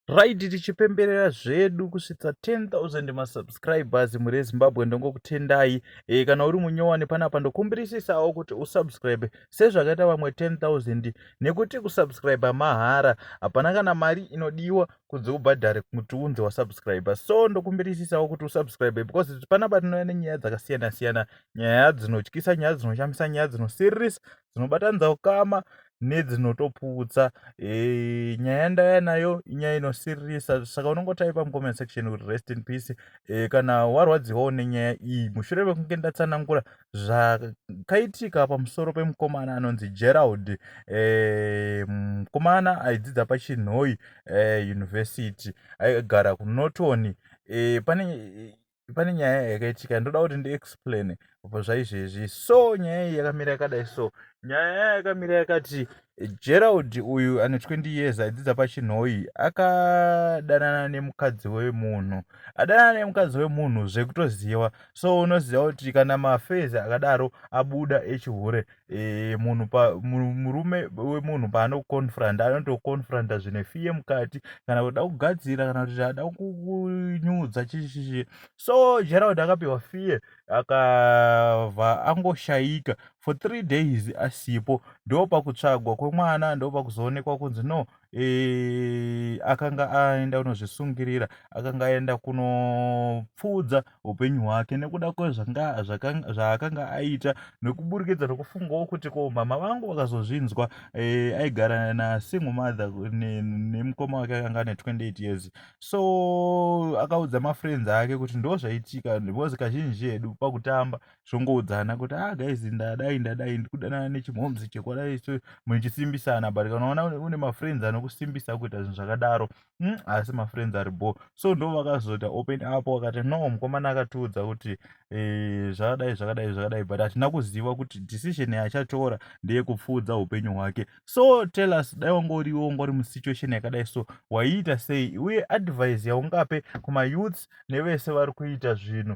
Right tichipemberera zvedu kusvitsa 10000 ma subscribers muri eZimbabwe ndongokutendai e, kana uri munyowani panapa ndokumbirisisawo kuti usubscribe sezvakaita vamwe 10000 nekuti kusubscribe mahara hapana kana mari inodiwa kunzi ubhadhare kuti unzi wasubscribe so ndokumbirisisawo kuti usubscribe because panapa tinouya nenyaya dzakasiyana siyana nyaya dzinotyisa nyaya dzinoshamisa nyaya dzinosiririsa dzinobatanidza ukama nedzinotoputsa e, nyaya yandaya nayo inyaya inosiririsa saka unongotaipa mucomment section kuti rest in peace e, kana warwadziwawo nenyaya iyi mushure mekunge ndatsanangura zvakaitika pamusoro pemukomana anonzi gerald e, mukomana aidzidza pachinhoi e, university aigara kunoton e, pane pane nyaya yakaitika ndoda kuti ndiexplaine zvaizvezvi so nyaya iyi yakamira yakadai so nyaya yaya yakamira yakati gerald uyu ane 20 years aidzidza pachinhoyi akadanana nemukadzi wemunhu adanana nemukadzi wemunhu zvekutoziva so unoziva kuti kana mafezi akadaro abuda echihure e, munhu pa, murume wemunhu paanoconfronta anotoconfronta zvine fiye mukati kana kuda kugadzira kana kuti ada kunyudza chishishe so gerald akapiwa fiye akabva angoshayika for three days asipo ndo pakutsvagwa kwemwana ndo pakuzoonekwa kunzi no e, akanga aenda kunozvisungirira akanga aenda kunopfuudza upenyu hwake nekuda kwezvaakanga aita nekuburikidza nokufungawo kuti ko mama vangu vakazozvinzwa e, aigara nasingle mother nemukoma wake akanga ane 28 years so akaudza mafriends ake kuti ndo zvaitika because kazhinji edu pakutamba zvongoudzana kuti ah guys ndadai ndadai ndikudanana nechimhomzi chekwadai so muchisimbisana but kana unaona une mafriends anokusimbisa kuita zvinhu zvakadaro mm, asi mafriends ari bo so ndo vakazoita open up wakati no mukomana akatiudza kuti eh, zvakadai zvakadai zvakadai but hatina kuziva kuti decision yachatora ndeyekupfuudza upenyu hwake so tell us dai wanga uriwe wanga uri musituation yakadai so waiita sei uye advice yaungape kumayouths nevese vari kuita zvinhu